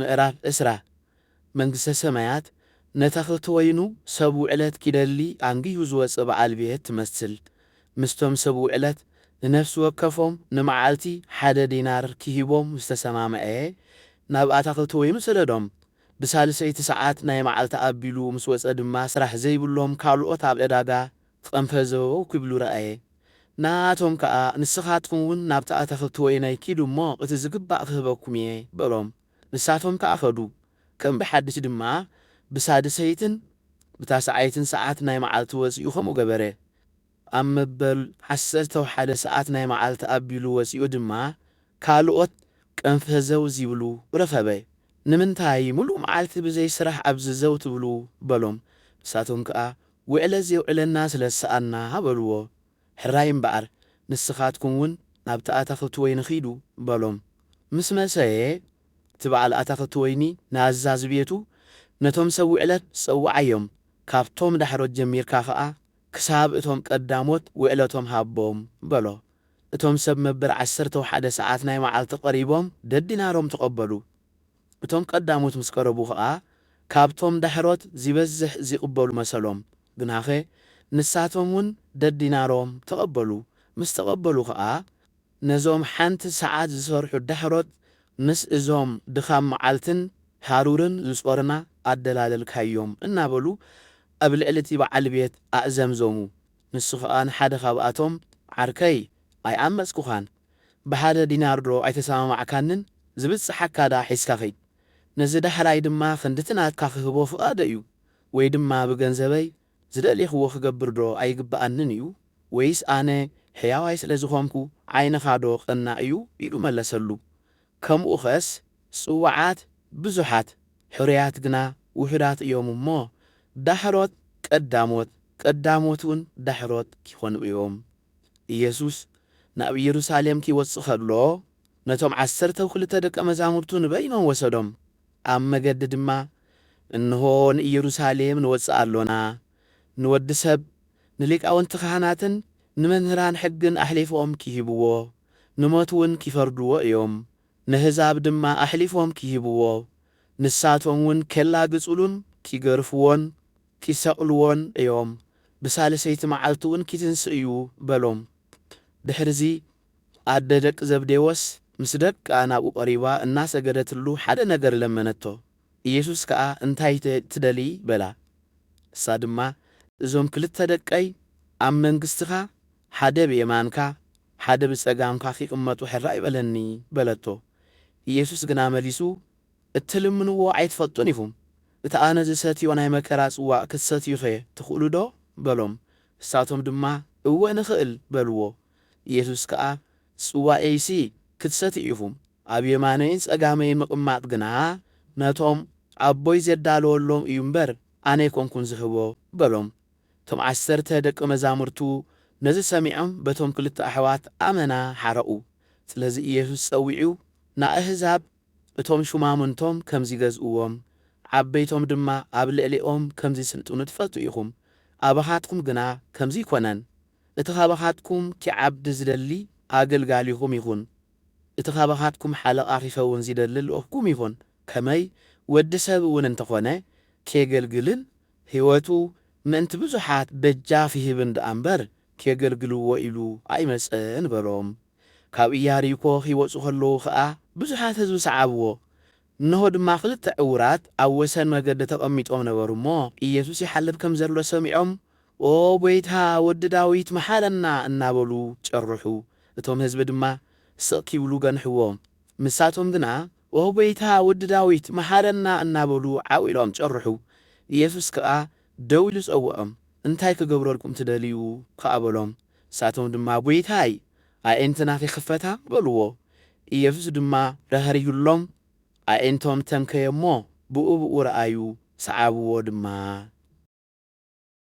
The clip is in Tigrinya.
ምዕራፍ ዕስራ መንግስተ ሰማያት ነተኽልቲ ወይኑ ሰብ ውዕለት ኪደሊ ኣንጊሁ ዝወጽእ በዓል ቤት ትመስል። ምስቶም ሰብ ውዕለት ንነፍሲ ወከፎም ንመዓልቲ ሓደ ዲናር ኪህቦም ምስ ተሰማምዐ፣ ናብ ኣታኽልቲ ወይኑ ሰደዶም። ብሳልሰይቲ ሰዓት ናይ መዓልቲ ኣቢሉ ምስ ወጸ ድማ ስራሕ ዘይብሎም ካልኦት ኣብ ዕዳጋ ጸንፈ ዘበበው ኪብሉ ረኣየ። ንኣኣቶም ከኣ፣ ንስኻትኩምውን ናብቲ ኣታኽልቲ ወይናይ ኪዱ እሞ፣ እቲ ዚግባእ ኽህበኩም እየ፣ በሎም። ንሳቶም ከኣ ኸዱ። ከም ብሓድሽ ድማ፣ ብሳድሰይትን ብታስዓይትን ሰዓት ናይ መዓልቲ ወጺኡ ኸምኡ ገበረ። ኣብ መበል ዓሰርተው ሓደ ሰዓት ናይ መዓልቲ ኣቢሉ ወጺኡ ድማ፣ ካልኦት ቀንፈ ዘው ዚብሉ ረኸበ። ንምንታይ ምሉእ መዓልቲ ብዘይ ስራሕ ኣብዚ ዘው ትብሉ? በሎም። ንሳቶም ከኣ፣ ውዕለት ዜውዕለና ስለ ዝሰኣንና በልዎ። ሕራይ እምበኣር፣ ንስኻትኩምውን ናብቲ ኣታኽልቲ ወይኒ ኺዱ፣ በሎም። ምስ መሰየ፣ እቲ በዓል ኣታኽልቲ ወይኒ ንኣዛዚ ቤቱ፣ ነቶም ሰብ ውዕለት ጸውዓዮም፣ ካብቶም ዳሕሮት ጀሚርካ ኸኣ፣ ክሳብ እቶም ቀዳሞት ውዕለቶም ሃቦም፣ በሎ። እቶም ሰብ መበል ዓሰርተው ሓደ ሰዓት ናይ መዓልቲ ቐሪቦም፣ ደዲናሮም ተቐበሉ። እቶም ቀዳሞት ምስ ቀረቡ ከኣ ካብቶም ዳሕሮት ዚበዝሕ ዚቕበሉ መሰሎም፣ ግናኸ ንሳቶምውን ደዲናሮም ተቐበሉ፣ ምስ ተቐበሉ ከኣ ነዞም ሓንቲ ሰዓት ዚሰርሑ ዳሕሮት ምስ እዞም ድኻም መዓልትን ሃሩርን ዚጾርና ኣደላለልካዮም፣ እናበሉ ኣብ ልዕሊ እቲ በዓል ቤት ኣእዘምዘሙ። ንሱ ኸኣ ንሓደ ኻብኣቶም፣ ዓርከይ፣ ኣይዓመጽኩኻን፣ ብሓደ ዲናርዶ ኣይተሰማማዕካንን፣ ዚብጽሓካ ደኣ ሒዝካ ኺድ፣ ነዚ ዳህራይ ድማ ኽንድቲ ናትካ ኽህቦ ፍቓደይ እዩ፣ ወይ ድማ ብገንዘበይ ዝደሌኽዎ ኽገብርዶ ኣይግብኣንን እዩ? ወይስ ኣነ ሕያዋይ ስለ ዝዀንኩ ዓይንኻዶ ቐናእ እዩ? ኢሉ መለሰሉ። ከምኡኸስ ጽውዓት ብዙሓት፣ ሕሩያት ግና ውሑዳት እዮም እሞ፣ ዳሕሮት ቀዳሞት፣ ቀዳሞትውን ዳሕሮት ኪኾኑ እዮም። ኢየሱስ ናብ ኢየሩሳሌም ኪወጽእ ከሎ፣ ነቶም ዓሰርተው ክልተ ደቀ መዛሙርቱ ንበይኖም ወሰዶም። ኣብ መገዲ ድማ፣ እንሆ ንኢየሩሳሌም ንወጽእ ኣሎና፣ ንወዲ ሰብ ንሊቃውንቲ ኻህናትን ንመምህራን ሕግን ኣሕሊፎም ኪህብዎ፣ ንሞትውን ኪፈርድዎ እዮም፣ ነህዛብ ድማ ኣሕሊፎም ኪህብዎ፣ ንሳቶምውን ኬላግጹሉን ኪገርፍዎን ኪሰቕልዎን እዮም፣ ብሳልሰይቲ መዓልቲውን ኪትንስእ እዩ በሎም። ድሕርዚ፣ ኣደ ደቂ ዘብዴዎስ ምስ ደቃ ናብኡ ቐሪባ እናሰገደትሉ ሓደ ነገር ለመነቶ። ኢየሱስ ከኣ እንታይ ትደልዪ? በላ። ንሳ ድማ እዞም ክልተ ደቀይ ኣብ መንግስትኻ ሓደ ብየማንካ፣ ሓደ ብጸጋምካ ኺቕመጡ ሕራይ በለኒ፣ በለቶ። ኢየሱስ ግና መሊሱ፣ እትልምንዎ ኣይትፈልጡን ኢኹም፣ እቲ ኣነ ዝሰትዮ ናይ መከራ ጽዋእ ክትሰትዩኸ ትኽእሉዶ? በሎም። ንሳቶም ድማ፣ እወ ንኽእል፣ በልዎ። ኢየሱስ ከኣ፣ ጽዋኤይሲ ክትሰትዩ ኢኹም፣ ኣብ የማነይን ጸጋመይን ምቕማጥ ግና፣ ነቶም ኣቦይ ዜዳለወሎም እዩ እምበር፣ ኣነ ኣይኰንኩን ዝህቦ፣ በሎም። እቶም ዓሰርተ ደቂ መዛሙርቱ ነዚ ሰሚዖም በቶም ክልተ ኣሕዋት ኣመና ሓረቑ። ስለዚ ኢየሱስ ጸዊዑ ንኣህዛብ እቶም ሹማምንቶም ከም ዚገዝእዎም፣ ዓበይቶም ድማ ኣብ ልዕሌኦም ከም ዚስልጥኑ ትፈልጡ ኢኹም፣ ኣባኻትኩም ግና ከምዚ ኣይኮነን። እቲ ካባኻትኩም ኪዓብድ ዚደሊ ኣገልጋሊኹም ይኹን፣ እቲ ካባኻትኩም ሓለቓ ኺከውን ዚደሊ ልኡኽኩም ይኹን፣ ከመይ ወዲ ሰብውን እንተ ኾነ ኬገልግልን ህይወቱ ምእንቲ ብዙሓት በጃፍ ይህብን ደኣ እምበር ኬገልግልዎ ኢሉ ኣይመጸን በሎም። ካብ ኢያሪኮ ኺወጹ ኸለዉ ኸኣ ብዙሓት ህዝቢ ሰዓብዎ። እንሆ ድማ ኽልተ ዕዉራት ኣብ ወሰን መገዲ ተቐሚጦም ነበሩ እሞ፣ ኢየሱስ ይሓልፍ ከም ዘሎ ሰሚዖም፣ ኦ ጐይታ፣ ወዲ ዳዊት፣ መሓረና እናበሉ ጨርሑ። እቶም ህዝቢ ድማ ስቕ ኪብሉ ገንሕዎም። ንሳቶም ግና፣ ኦ ጐይታ፣ ወዲ ዳዊት፣ መሓረና እናበሉ ዓው ኢሎም ጨርሑ። ኢየሱስ ከኣ ደው ኢሉ ጸውዖም፣ እንታይ ክገብረልኩም ትደልዩ? ከኣ በሎም። ንሳቶም ድማ፣ ጐይታይ፣ ኣዒንትና ኺኽፈታ፣ በልዎ። ኢየሱስ ድማ ራህሪሁሎም፣ ኣዒንቶም ተንከየ እሞ፣ ብኡብኡ ረኣዩ፣ ሰዓብዎ ድማ።